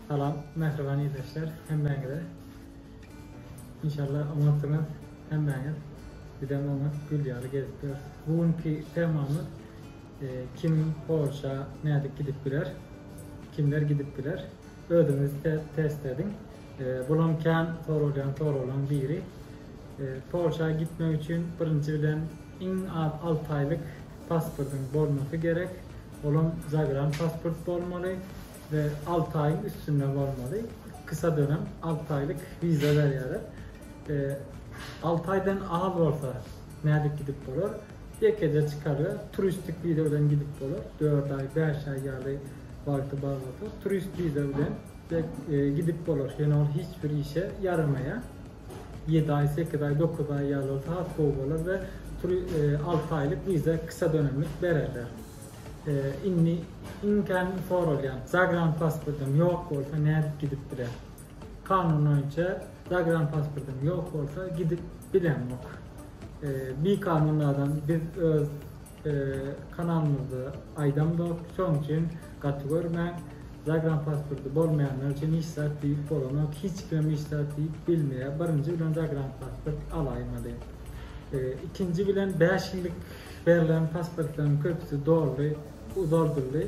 Salam, mähriban ildeşler, hemmäňize. Inşallah oňatsyňyz, hemmäňiz. Bizem oňat, gül ýaly gezip ýörüs. Bu günki temamyz e, kim Polşa nädip gidip biler? Kimler gidip biler? Özüňizi test ediň. Bulam kän soralýan soraglaň biri. Polşa gitmek üçin birinji bilen iň az alty aýlyk pasportyň bolmasy gerek. Olam zagran pasport bolmaly we alty aýyň üstünde bolmaly. Kysa dönem alty aýlyk wiza berýärler. Alty aýdan az bolsa nädip gidip bolar? Ýekeje çykarga turistik wiza bilen gidip bolar. Dört aý, bäş aý ýaly wagty bar bolsa, turist wiza bilen gidip bolar. Ýöne ol hiç bir işe ýaramaýar. Ýedi aý, sekiz aý, dokuz aý ýaly bolsa has gowy bolar we alty aýlyk wiza kysy dönemlik bererler. Indi iň kän soralýan zagran pasportyň ýok bolsa nädip gidip biler? Kanun boýunça zagran pasportyň ýok bolsa gidip bilemok. Bikanunladan biz öz kanalymyzda aýdamzok, şoň üçin gaty görmäň. Zagranpasporty bolmaýanlar üçin hiç zat diýip bolanok, hiç kimem hiç zat diýip bilmeýär. Birinji bilen zagranpasport alaýmaly. Ikinji bilen bäş ýyllyk berlen pasportlaryň köpüsi doldy, uzaldyldy.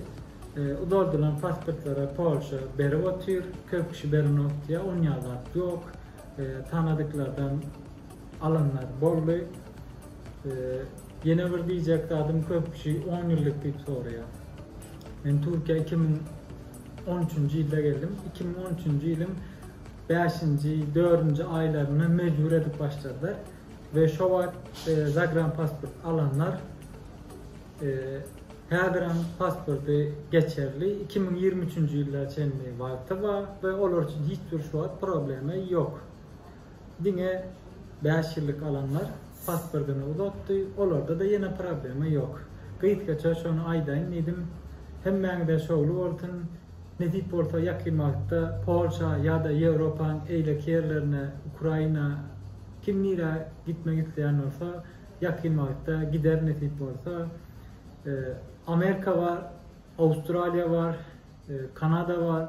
Uzaldylan pasportlary Polşa berip otyr, köp kişi berenok diýýär, onýa zat ýok. Tanadyklardan Alanlar boldy. Ýene bir diýjek zadym köp kişi on ýyllyk diýip soraýar. Men Türkiýä iki müň on üçünji ýylda geldim. Iki müň on üçünji ýylyň bäşinji, dördünji aýlarynda mejbur edip başladylar we şo wagt e, zagran pasport alanlar e, häzirem pasporty geçerli iki müň ýigrimi üçünji ýyla çenli wagty bar we olar üçin hiç bir şu wagt problema ýok. Diňe bäş ýyllyk alanlar pasportyny uzatdy, olarda-da ýene problema ýok. Gysgaça şony aýdaýyn diýdim. Hemmäňize şowly bolsun. Nesip bolsa ýakyn wagtda Polşa ýa-da Ýewropaň eýleki ýerlerine, Ukraina, kim nirä gitmek isleýän bolsa, ýakyn wagtda gider nesip bolsa. Amerika bar, Awstraliýa bar, Kanada bar.